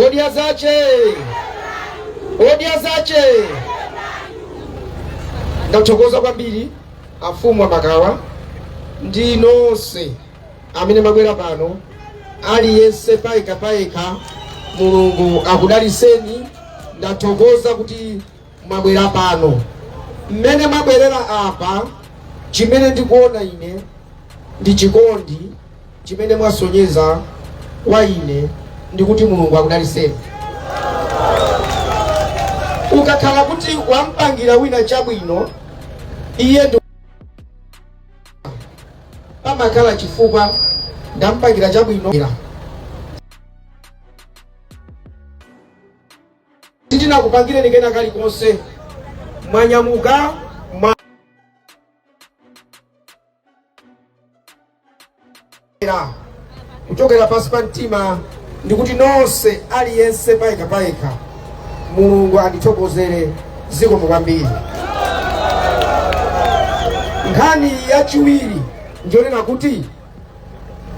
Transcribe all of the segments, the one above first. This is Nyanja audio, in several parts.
Odya zace! Odya zace! Ndathokoza kwambiri afumu amakawa ndi nonse amene mwabwera pano aliyense payekha payekha mulungu akudaliseni ndathokoza kuti mwabwera pano, mmene mwabwerera apa, chimene ndikuona ine ndi chikondi chimene mwasonyeza kwa ine, ndikuti Mulungu akudaliseni. Ukakhala kuti wampangira wina chabwino, iye nde pamakhala chifukwa ndampangira chabwino. sitinakupangireni kena kalikonse mwanyamuka mwa kuchokera pansi pa mtima ndikuti nonse aliyense payekha payekha mulungu andithokozere zikomo kwambiri nkhani yachiwiri ndiyonena kuti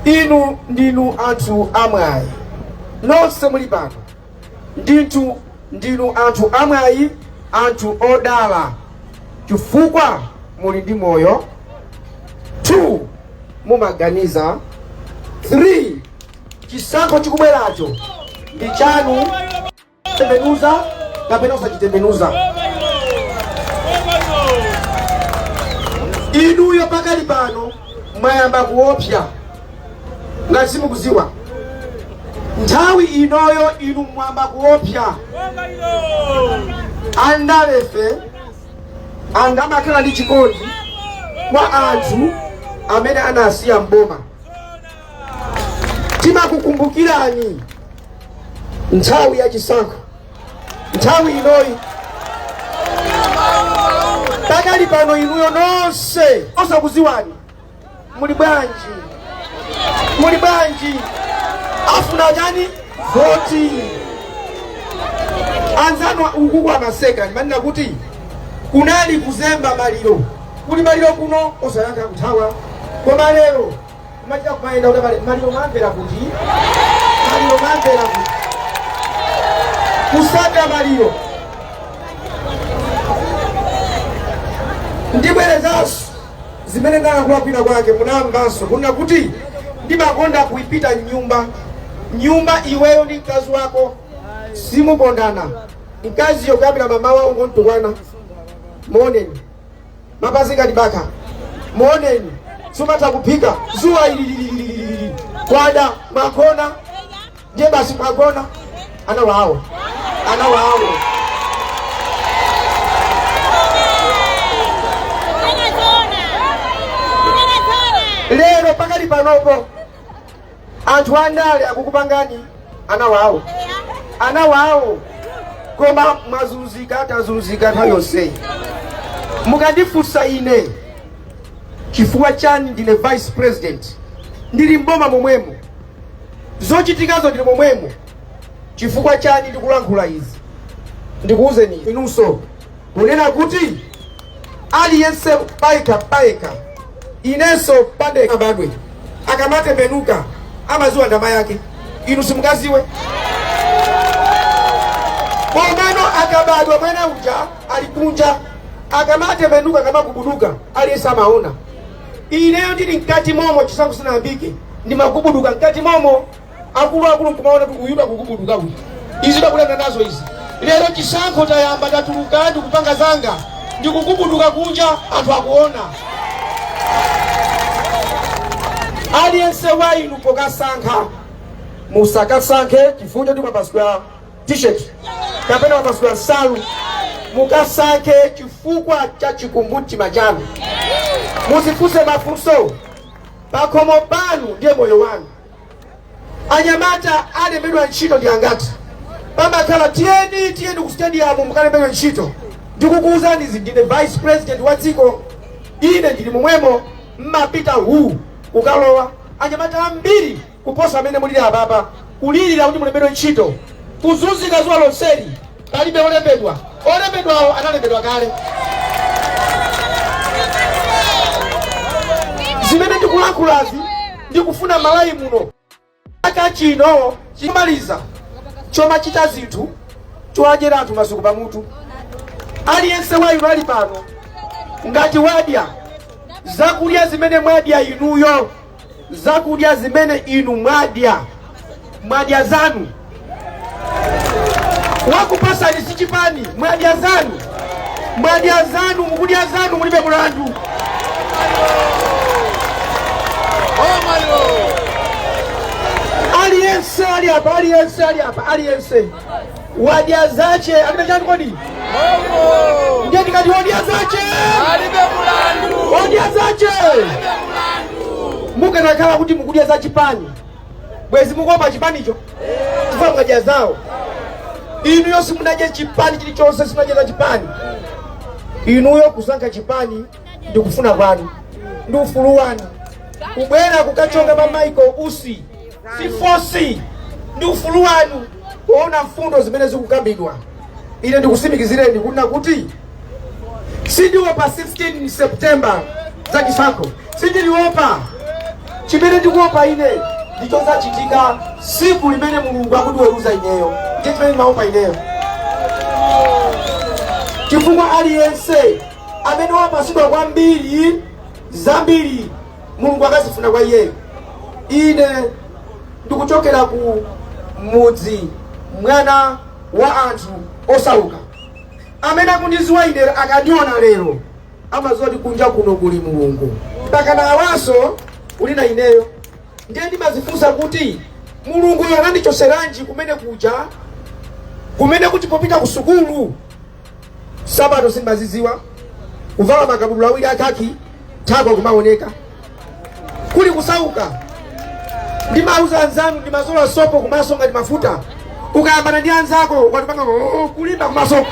inu ndinu anthu amwayi nonse muli pano Ndithu ndinu anthu amwayi, anthu odala, chifukwa muli ndi moyo, 2 mumaganiza, 3 chisankho chikubweracho ndi chanu, tembenuza kapena usachitembenuza. Inuyo pakali pano mwayamba kuopsa. ngati simukuziwa nthawi inoyo inu mwayamba kuopsya andalefe sangamakhale ndi chikondi kwa anthu amene anasiya mboma timakukumbukirani nthawi ya chisankho nthawi inoyi pakali pano inuyo nonse osakuziwani muli bwanji muli bwanji afuna chani voti anzanu ukuku amaseka ndimanena kuti kunali kuzemba maliro kuli maliro kuno osayankha kuthawa koma lero kumachita kumayenda kuti mali- maliro mamvera kuti maliro mamvera kuti kusaka maliro ndibwerezanso Zimene ndinalankhula kwina kwake munamvanso, kunena kuti, Ndimakonda kupita m'nyumba. M'nyumba iweyo ndi mkazi wako simukondana. Mkaziyo kuyambira mamawa ungontukwana. Muoneni mapazi ngati bakha, muoneni sumatha kuphika, dzuwa ili lili lili lili lili, kwada mwagona ndiye basi mwagona ana wawo ana wawo lero pakali panopo anthu andale akukupangani ana wawo ana wawo koma mwazunzika tazunzika nthawi yonseyi mukandifunsa ine chifukwa chani ndine vice president ndili mboma momwemo Zochitikazo ndili momwemo. Chifukwa chani ndikulankhula izi? Ndikuuzeni inunso kunena kuti aliyense payekha payekha, inenso pandekha mwana asanabadwe akamatembenuka amaziwa nda mayake, inu simungaziwe komano akabadwa mwana uja ali kunja akamatembenuka akamagubuduka aliyense amaona. ineyo ndili mkati momo chisankho sinayambike ndimagubuduka mkati momo akuluakulu nkumaona kuti uyu akugubuduka uyu izi sakuyenda nazo izi lero chisankho tayamba tatuluka ndikupanga zanga ndikugubuduka kunja anthu akuona aliyense wa inu pokasankha musakasankhe chifukwa choti mwapatsidwa t-shirt kapena mwapatsidwa nsalu mukasankhe chifukwa cha chikumbumtima chanu muzifunse mafunso pakhomo panu ndi moyo wanu anyamata alembedwa ntchito ndi angati pamakhala tiyeni tiyeni ku stadium mukalembedwe ntchito ndikukuwuzani izi ndine vice president wa dziko ine ndili momwemo mmapita uku kukalowa anyamata ambiri kuposa mmene mulili apapa, kulilira kuti mulembedwe ntchito, kuzunzika dzuwa lonseli, palibe olembedwa, olembedwawo analembedwa kale. Zimene ndikulankhulazi ndikufuna Malawi muno chaka chino chomaliza chomachita zinthu chowadyera anthu masuku pamutu. Aliyense wa inu ali pano ngati wadya zakudya zimene mwadya inuyo zakudya zimene inu mwadya mwadya zanu wakupasani si chipani mwadya zanu mwadya zanu mukudya zanu mulibe mulandu aliyense ali apa aliyense ali apa aliyense wadya zace alibe chani kodi ndiye ndikati wadya zace alibe mulandu wadya zace mukanakhala kuti mukudya za chipani bwezi mukuopa chipanicho chifukwa mwadya zawo inuyo simunadya chipani chilichonse simunadya za chipani inuyo kusankha chipani ndi kufuna kwanu ndi ufulu wanu kubwera kukachonga pa michael usi si fosi ndi ufulu wanu kuona mfundo zimene zikukambidwa ine ndikusimikizireni kunena kuti sindiopa 16 september za chisankho sindiliopa chimene ndikuopa ine ndi chozachitika siku limene mulungu akundiweruza ineyo ndiye chimene ndimaopa ineyo chifukwa aliyense amene wapatsidwa kwambiri zambiri mulungu akazifuna kwa iyeyo ine ndikuchokera ku mudzi mwana wa anthu osauka amene akundiziwa ine akandiona lero amaziwa kuti kunja kuno kuli mulungu mpakana awaso uli na ineyo ndiye ndimazifunsa kuti mulungu anandichoseranji kumene kuja kumene kuti popita ku sukulu Sapato sindimaziziwa, kuvala makabudula awiri a khaki, thako kumaoneka. Kuli kusauka. Ndimauza anzanu ndimazola sopo kumaso ngati mafuta. Ukayambana ndi anzako ukatipanga oh, kulimba kumaso.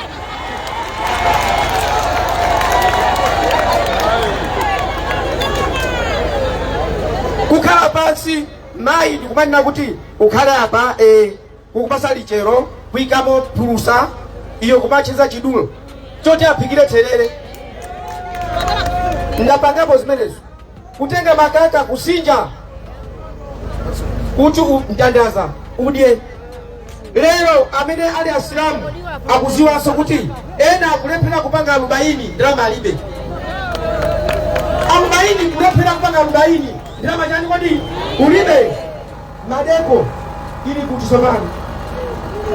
Kukhala pansi mayi ndikumanena kuti ukhale apa eh. kukupasa lichero kuikamo phulusa iwe kumacheza chidulo choti aphikire therere ndapangapo zimenezo kutenga makaka kusinja kuti u- mtandaza udye lero amene ali asilamu akuziwanso kuti ena akulephera kupanga alubaini ndalama alibe alubaini kulephera kupanga alubaini ndalama chani kodi ulibe Maldeco ili kuti sopano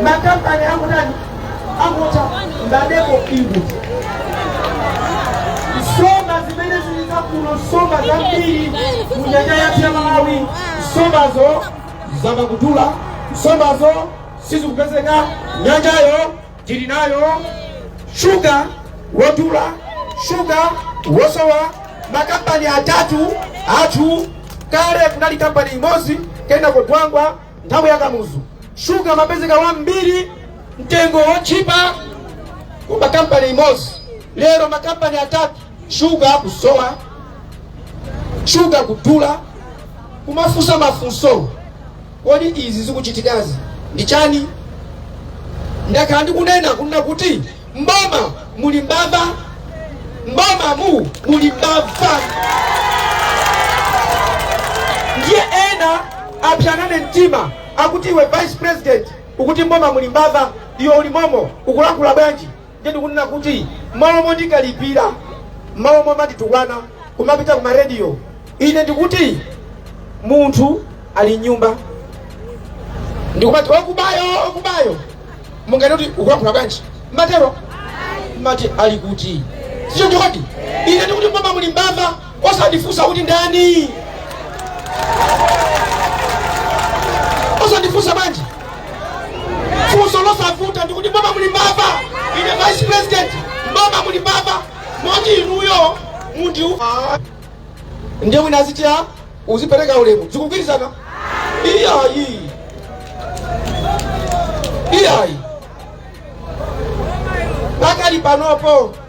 makampani akutani akutha Maldeco ili kuti nsomba zimene zili za kuno nsomba zambiri mu nyanja yathu ya malawi nsombazo zayamba kudula nsombazo sizikupezeka nyanjayo Tili nayo shuga wodula, shuga wosowa, makampani atatu athu. Kale kunali kampani imodzi, kenako Dwangwa nthawi ya Kamuzu. Shuga amapezeka wambiri, mtengo wotchipa koma kampani imodzi. Lero makampani atatu, shuga akusowa, shuga kudula, kumafunsa mafunso Kodi izi zikuchitikazi ndi chani? Ndakhala ndikunena kunena kuti m'boma muli mbava, m'bomamu muli mbava. Ndiye ena apya nane mtima akuti iwe vice president ukuti m'boma muli mbava, iwe uli momo ukulankhula bwanji? Ndiye ndikunena kuti m'malo mondikalipira, m'malo momanditukwana, kumapita ku ma radio, ine ndikuti munthu ali m'nyumba ndikumati okubayo okubayo, mungati kuti ukulankhula bwanji? Mumatero mumati ali kuti sicho chikodi? Ine ndikuti mboma muli mbava. osandifunsa kuti ndani osandifunsa bwanji funso losavuta ndikuti mboma muli mbava ine vice president mboma muli mbava moti inuyo munthu ndiye wina azitira uzipereka ulemu sizikugwirizana iyayi iyayi pakali panopo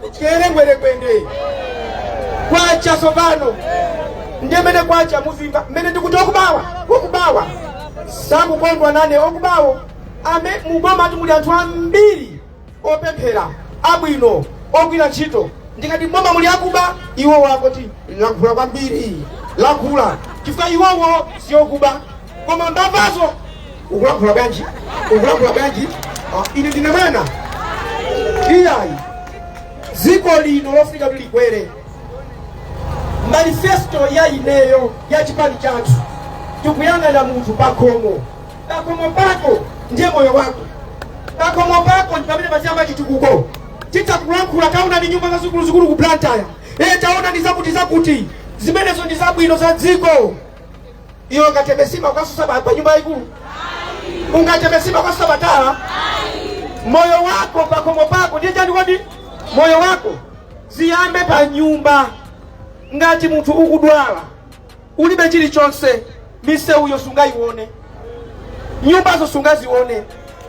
kutelengwelengwende kwacha tsopano ndiye mene kwacha mudzimva mene ndikuti okubawa okubawa sakukondwa nane okubawo amene mu boma muli anthu ambiri opemphera abwino ogwira ntchito ndikati mboma muli akuba iwowo akuti walankhula kwambiri walankhula chifukwa iwowo si okuba koma mbavazo ukulankhula bwanji ukulankhula bwanji ine ndine mwana iyayi dziko lino lofuna kuti likwere manifesto ya ineyo ya chipani chathu tikuyang'ana munthu pakhomo pakhomo pako ndiye moyo wako pakhomo pako ndi pamene paziyamba chitukuko tisakulankhula taonani nyumba zazikuluzikulu ku Blantyre e taonani zakuti zakuti zimenezo ndi zabwino za dziko iyo ungatembesima ukasusa pa pa nyumba ikulu ungatembesima ukasusa patala moyo wako pakhomo pako ndiye chani kodi moyo wako ziyambe pa nyumba ngati munthu ukudwala ulibe chilichonse misewuyo sungayione nyumbazo sungazione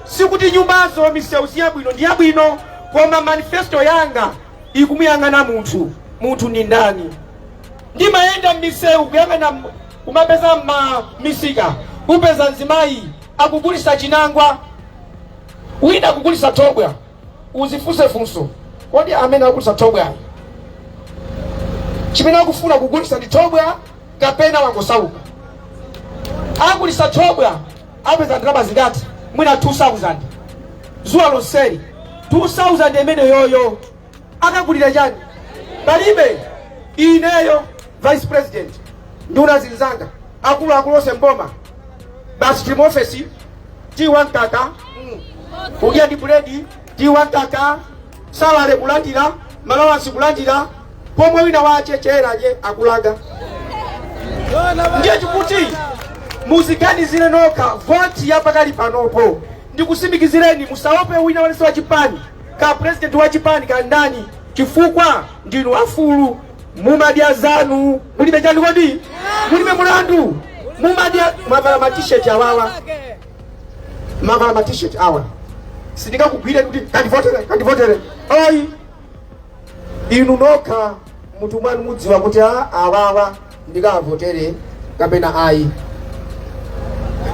sikuti nyumbazo misewu si yabwino ndi yabwino koma manifesto yanga ikumuyang'ana munthu munthu ndi ndani ndimayenda m'misewu kuyang'ana umapeza m'ma misika upeza mzimayi akugulitsa chinangwa wina akugulitsa thobwa udzifunse funso kodi amene akugulitsa thobwayo chimene akufuna kugulitsa ndi thobwa kapena wangosauka agulitsa thobwa apeza ndalama zingati mwina 2000 dzuwa lonseli 2000 imeneyoyo akagulire chani palibe ineyo vice president nduna zinzanga akulu akulu onse mboma basi tili mu ofesi tiyi wa mkaka kudya ndi buledi tiyi wa mkaka salary kulandira ma alawansi kulandira pomwe wina wachichere eje akulaga ndiye chikuti muziganizire nokha voti ya pakali panopo ndikutsimikizireni musaope wina wanenesa wa chipani ka president wa chipani ka ndani chifukwa ndinu afulu mumadya zanu mulibe chani kodi mulibe mulandu mwavala matisheti awawa mwavala matisheti awa sindingakugwire kuti kandivotere kandivotere ayi inu nokha mumtima mwanu mudziwa kuti a awawa ndikavotere kapena ayi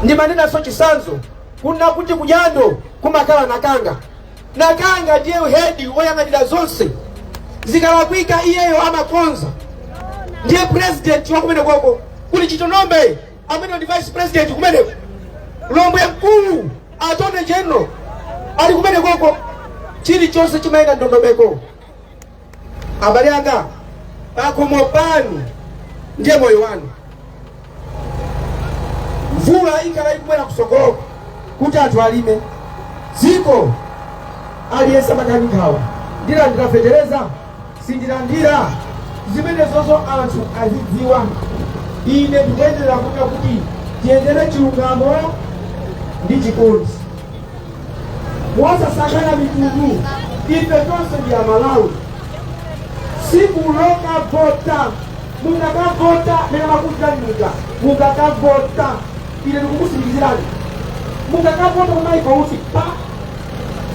ndimanenanso chisanzo kuna kuti kudambwe kumakhala Nakanga Nakanga ndiye hedi woyang'anira zonse, zikalakwika iyeyo amakonza, ndiye president wa kumenekoko kuli Chitonombe amene ndi vice president kumeneko, Lombwe mkulu attorney general ali kumenekoko, chilichonse chimayenda mndondomeko. abale anga pakhomo panu ndiye moyo wanu mvula ikhala ikubwera kusogolo kuti anthu alime dziko aliyense amada nkhawa ndilandira fetereza sindilandira zimenezozo anthu azidziwa ine ndikuyenera kuona kuti tiyendere chilungamo ndi chikondi mosasankhana mitundu ife tonse ndi amalawi tsiku lokavota mungakavota mene makutanduka mungakavota ine ndikukutsimikizirani mungakavota kumaiko uti pa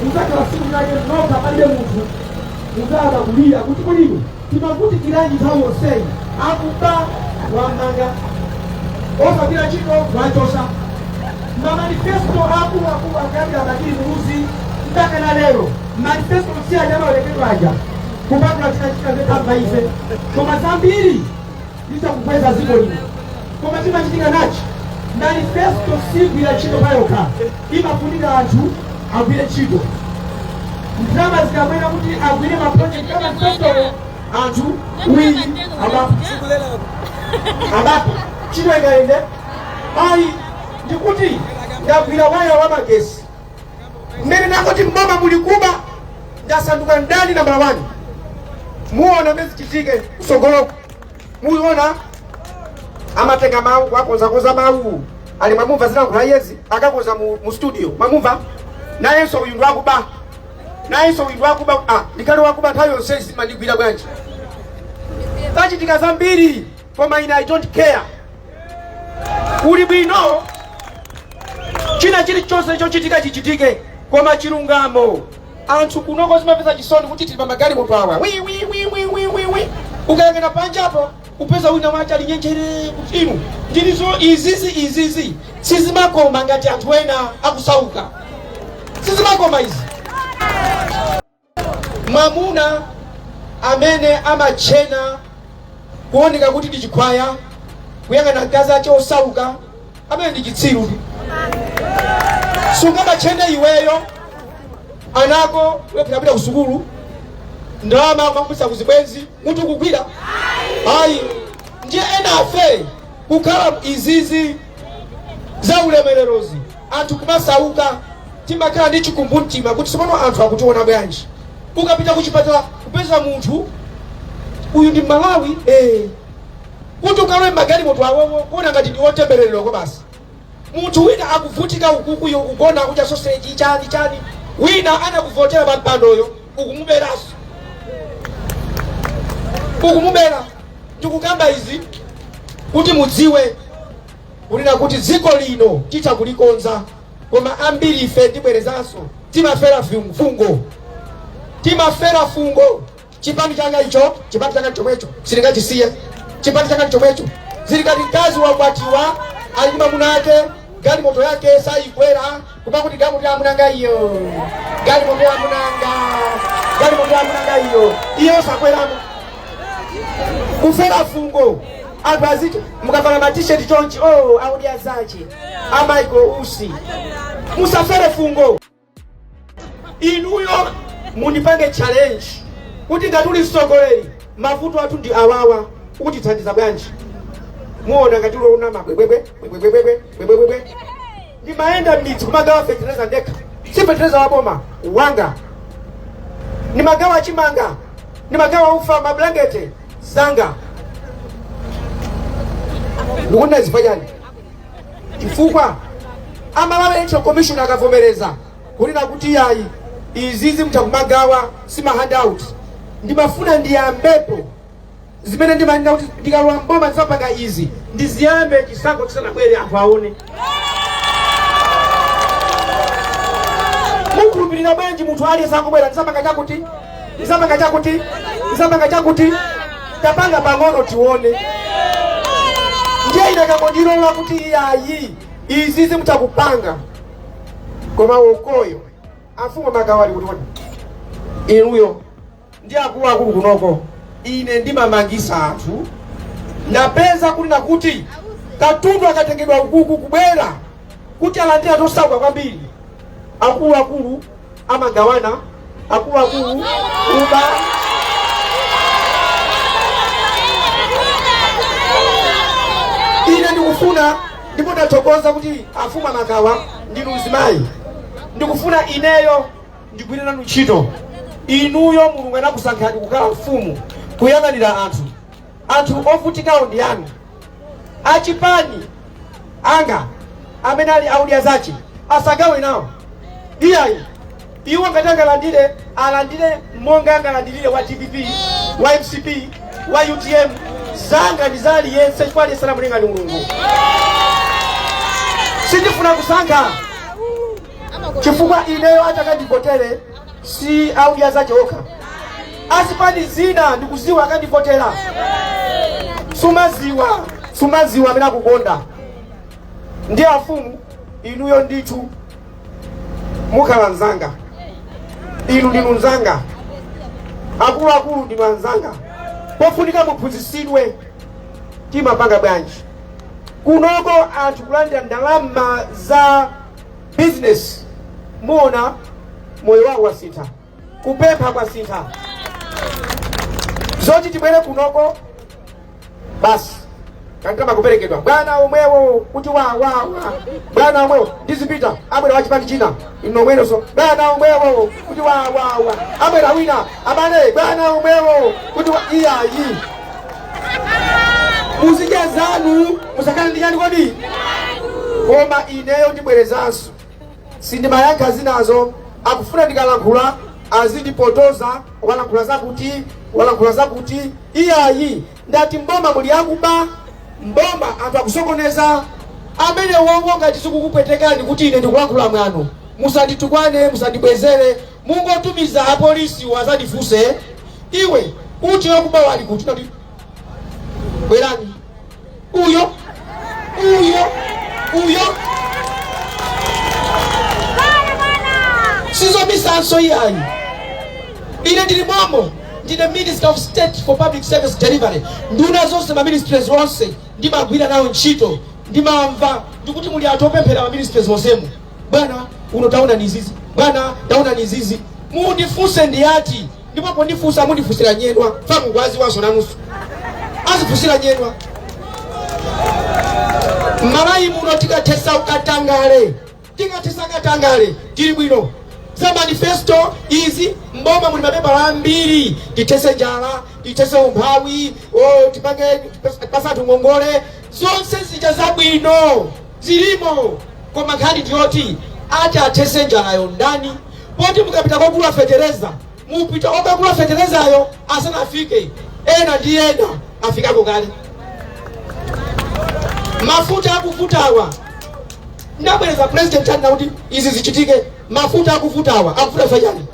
mungakhala tsiku lake lokha palibe munthu mungaka kulira kuti kulinu Timavutikiranji nthawi yonseyi? Akuba amanga, osagwira ntchito achotsa, mamanifesto aakuluakulu kuyambira Bakili Muluzi mpaka na lero manifesto si aja amawerengedwa aja kupatula china china zotamba ife koma zambiri titha kukweza dziko lino koma chimachitika nachi manifesto siigwira ntchito payokha imafunika anthu agwire ntchito ndalama zikabwera kuti agwire maprojekti a manifestowo anthu uwiri abapa abapa ntchito ikayende ayi ndikuti ndagwira waya wa magesi mmene nakoti mboma muli kuba ndasanduka ndani nambala wani muona mmene zichitike kutsogoloko muona amatenga mawu akonzakonza mawu ali mwamumva zilankhula yezi akakonza mu studio mwamumva nayenso uyu ndwakuba nayenso uyu ndwakuba ah, ndikale wakuba nthawi yonse sumandigwira bwanji zachitika zambiri koma ine i don't care kuli bwino china chilichonse chochitika chichitike koma chilungamo anthu kunoko zimapeza chisoni kuti tili pa magalimoto awa wi wi wi wi wi wi wi ukayang'ana panjapo kupeza wina wace ali nyenjere kuti inu ndilizo izizi izizi sizimakoma ngati anthu ena akusauka sizimakoma izi mwamuna amene amatchena kuoneka kuti ndi chikhwaya kuyang'ana mkazi ace osauka ameneyo ndi chitsiru sungamatchene iweyo anako osapita ku sukulu ndalama kumapatsa kuzibwenzi mutu kugwira ayi ndiye enafe kukhala izizi za ulemererozi anthu kumasauka timakhala ndi chikumbumtima kuti tsopano anthu akutiona bwanji ukapita kuchipatala kupeza munthu uyu ndi Mmalawi eh. kuti ukalowe m'magalimoto awowo kuona ngati ndi otembereredwako basi munthu wina akuvutika ukuku iwe ukugona kudya soseji chani chani wina anakuvotera pa mpandoyo ukumuberanso ukumubera ndikukamba izi kuti mudziwe kunena kuti dziko lino titha kulikonza koma ambiri ife ndibwerezanso timafera fungo timafera fungo Chipani changa icho, chipani changa chomwecho, sindingachisiye chipani changa chomwecho. Zili ngati mkazi wakwatiwa ali ndi mwamuna ake, galimoto yake sayikwera kumati galimoto ya amunanga iyo, galimoto ya amunanga, galimoto ya amunanga iyo, iye osakweramo kufera fungo anthu aziti mukavala matisheti chonchi oh, audi azache amaiko usi musafere fungo inuyo mundipange challenge kuti ngati uli mtsogoleri mavuto athu ndi awawa ukutithandiza bwanji muona ngati sayamba bwebwebwe bwebwebwebwe bwebwebwebwe ndimayenda m'midzi kumagawa fetereza ndekha si fetereza wa boma wanga ndimagawa chimanga ndimagawa ufa mablankete zanga ndikunena zifukwa chani chifukwa a Malawi Electoral Commission akanavomereza kunena kuti yayi izizi mutha kumagawa si ma handout ndimafuna ndiyambepo zimene ndimanena kuti ndikalowa mboma ndizapanga izi ndiziyambe chisankho chisanabwere anthu aone mukhulupirira bwanji munthu aliyense akubwera ndizapanga chakuti ndizapanga chakuti ndizapanga chakuti tapanga pang'ono tione ndiye akanangondilola kuti iyayi izizi mutha kupanga koma ukoyo akumagawa ali kuti inuyo ndi akuluakulu kunoko ine ndimamangisa anthu ndapeza kunena kuti katundu akatengedwa ukuku kubwera kuti alandire anthu osauka kwambiri akuluakulu amagawana akuluakulu kuba ine ndikufuna ndipo ndathokoza kuti afumu a Magawa ndinu mzimayi ndikufuna ineyo ndigwire nanu ntchito inuyo mulungu anakusankhani kukhala mfumu kuyang'anira anthu Anthu ovutikawo ndi anu, achipani anga amene ali a Odya zache asagawe nawo iyayi. Iwo ngati angalandire alandire monga angalandirire wa dpp wa mcp wa utm. Zanga ndi za aliyense chifukwa aliyense anamulenga ndi Mulungu. Sindifuna kusankha chifukwa ineyo atakandivotere si a Odya zache okha azipani zina ndikuziwa akandivotera sumaziwa sumaziwa amene akukonda ndi afumu inuyo ndithu mukhala mzanga inu ndinu mzanga akuluakulu ndinu anzanga pofunika muphunzitsidwe timapanga bwanji kunoko anthu kulandira ndalama za business muona moyo wawo wasintha kupempha kwasintha zoti tibwere kunoko basi kankama kuperekedwa bwana omwewo kuti wawawa bwana omwewo ndizipita abwera wachipani china nomwenunso bwana omwewo kuti wawawa abwera wina abale bwana omwewo kuti wa- iyayi muzidya zanu musakhale ndi chani kodi koma ineyo ndibwerezanso sindimayankha zinazo akufuna ndikalankhula azindipotoza walankhula zakuti walankhula zakuti iyayi ndati mboma muli akuba mboma anthu akusokoneza amenewowo ngati zikukupwetekani kuti ine ndikulankhula mwano musanditukwane musandibwezere Mungotumiza apolisiwo azandifunse iwe uti akubawo ali kuti nati bwerani uyo uyo uyo sizomisanso iyayi ine ndili mommo ndine minister of state for public service delivery nduna zonse ma ministries onse ndimagwira nawo ntchito ndimamva ndikuti muli anthu opemphera ma ministries onsemu bwana uno taonani izizi bwana taonani izizi mundifunse ndi ati ndipo pondifunsa mundifunsira nyedwa famu kwazi wanso nanusu azifunsira nyedwa mmalawi muno tikathesa ukatangale tikathesa katangale tili bwino za manifesto izi mboma muli mapepala ambiri tithese njala tithese umphawi oh, tipange patsa anthu ngongole zonse zija zabwino zilimo koma nkhani ndiyoti ati athese njalayo ndani poti mukapita kogula fetereza mupita kokagula feterezayo asanafike ena ndi ena afikako kale mafuta akuvutawa ndabwereza president anena kuti izi zichitike mafuta akuvutawa akuvuta pachani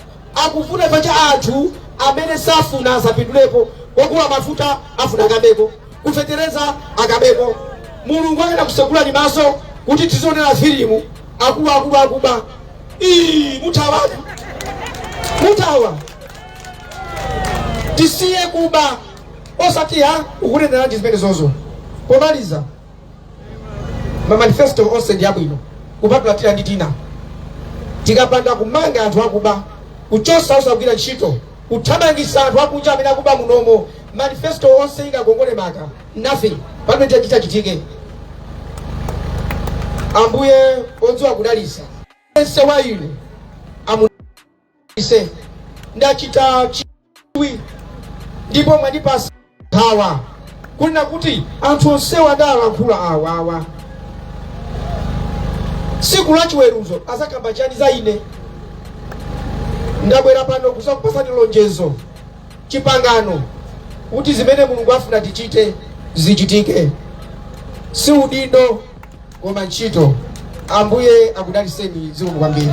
Akufuna paja anthu amene safuna asapindulepo kogula mafuta afuna akabeko ku fetereza akabeko mulungu akanakutsegulani maso kuti tikuonera filimu akuba akuba akuba ii mutha mutha tisiye kuba osati ha ukunenerana ndi zimene zozo pomaliza mamanifesto onse ndi abwino kupatula pena ndi pena tikapanda kumanga anthu akuba kuchosa osagwira ntchito kuthamangisa anthu akunja amene akuba munomo manifesto yonse ikakongole maka nothing chimene chitachitike ambuye odziwa kudalisa yense wa inu Ine ndachita chidwi ndipo mwandipasa nkhawa kunena kuti anthu onsewa adalankhula awawa tsiku la chiweruzo azakamba chani za ine ndabwera pano kuzakupasani lonjezo chipangano kuti zimene mulungu afuna tichite zichitike si udindo koma ntchito ambuye akudaliseni zikomo kwambiri